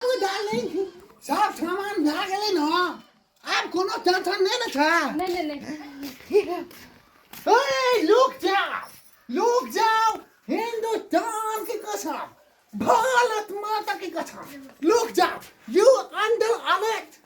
सब सामान भए गेलै ने आब कोनो टेंशन नहि ने छै नहि नहि नहि ओए लुक जाओ लुक जाओ हिंदुस्तान की कसम भारत माता की कसम लुक जाओ यू अंडर अरेस्ट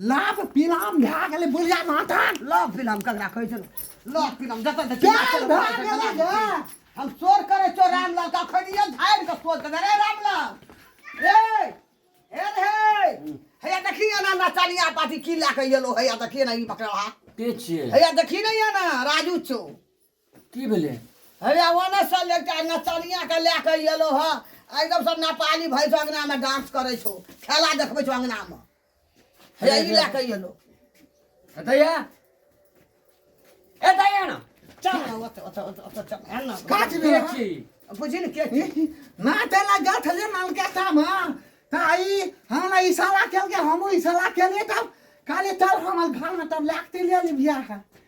लाभ पिलाम भए गेलै बुढ़िया माथान लाभ पिलाम ककरा कहै छै लाभ पिलाम जतऽ देखी प्यार भए गेलै गे हम चोर करै चोर रामलाल का खड़िया झाड़ि कऽ सोच देबै रे रामलाल ए ए रे हैया देखी ना ना चालिया पाटी की लए कऽ एलो हैया देखी ना ई पकड़ा के छियै हैया देखी ना या ना राजू चो की भेलै अरे ओने से एकटा नचनिया के लए के एलो ह एकदम सब नेपाली भई छौ अंगना में डांस करे छौ खेला देखबे छौ अंगना में हे ई लए के एलो एतैया एतैया ना चल ना ओते ओते ओते ओते चल है ना काट दे देख छी बुझी ने के छी? ना तेला गठ ले नाल के साम ता आई हम ना इशारा केल के हम इशारा केले तब काले तब हमर घर में तब लागते ले ले बियाह है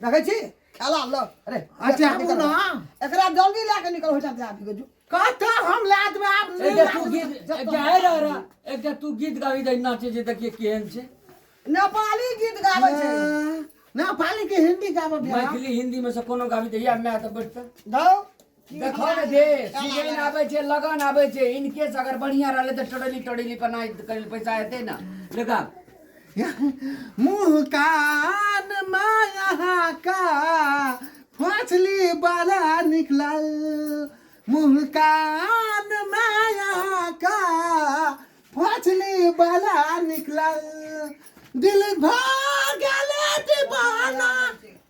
देखै छी खेला ल अरे अच्छा आबू ना एकरा जल्दी लए के निकल होइटा दे आबी गजू कहता हम ला देबै आब एक नहीं जे ला तू देबै। गीत एक जे है रह रहा एक जे तू गीत गाबी जाइ नाचे जे देखिए केहन छै नेपाली गीत गाबै छै ना पाली के हिंदी गाबो बिहार मैथिली हिंदी में से कोनो गाबी तऽ या मै तऽ बैठतै धौ देखो ने जे सीजन आबै छै लगन आबै छै इनके से अगर बढ़िया रहले त टोडली टोडली पर ना कल पैसा एते ना लगा मुँह कान माया का फसली बड़ा निकलल मुँह कान माया का फसली बड़ा निकलल दिल भर गेले दीवाना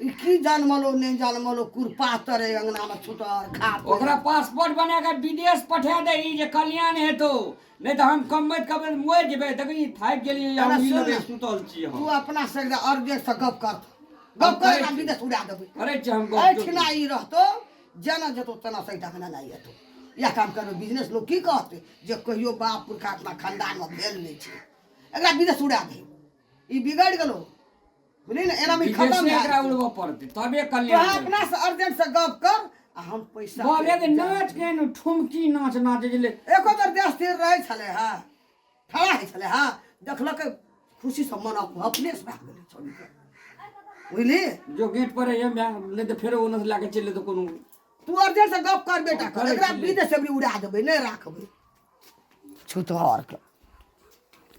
ई की जनमल ओ नहि जनमल ओ कुरपातर अइ अङ्गनामे छुटहर खा पी। ओकरा पासपोर्ट बना कऽ विदेश पठा दही जे कल्याण हेतौ नहि तऽ हम कमबैत कमबैत मरि जेबै देखी थाकि गेलियै या तोरा उंगली सुन लगे ने। सुतल छी तू हम अपना से एकदम अर्जेंटसँ गप कर गप कर करै ना छी। विदेश उड़ा देबै करै छी हम गप एहिठिना ई रहतौ जेना जेतौ तेना सहित अङ्गना नहि एतौ इएह काम करबै बिजनेस लोक की कहतै जे कहियो बाप पुरखा अपना खानदानमे भेल नहि छै एकरा विदेश उड़ा दही ई बिगड़ गेलो बुझली ने एना में खत्म भए एकरा उड़बो पड़ते तबे कल्याण तो अपना से अर्जेंट से गप कर आ हम पैसा बोले के नाच के न ठुमकी नाच नाच गेले एको बेर देश स्थिर रहे छले हा खड़ा है छले हा देखलक खुशी से मन अपने से भाग गेले छोड़ के बुझली जो गेट पर है नहीं तो फिर ओने से लाके चले तो कोनो तू अर्जेंट से गप कर बेटा कर एकरा विदेश से उड़ा देबे नहीं राखबे छुतहर के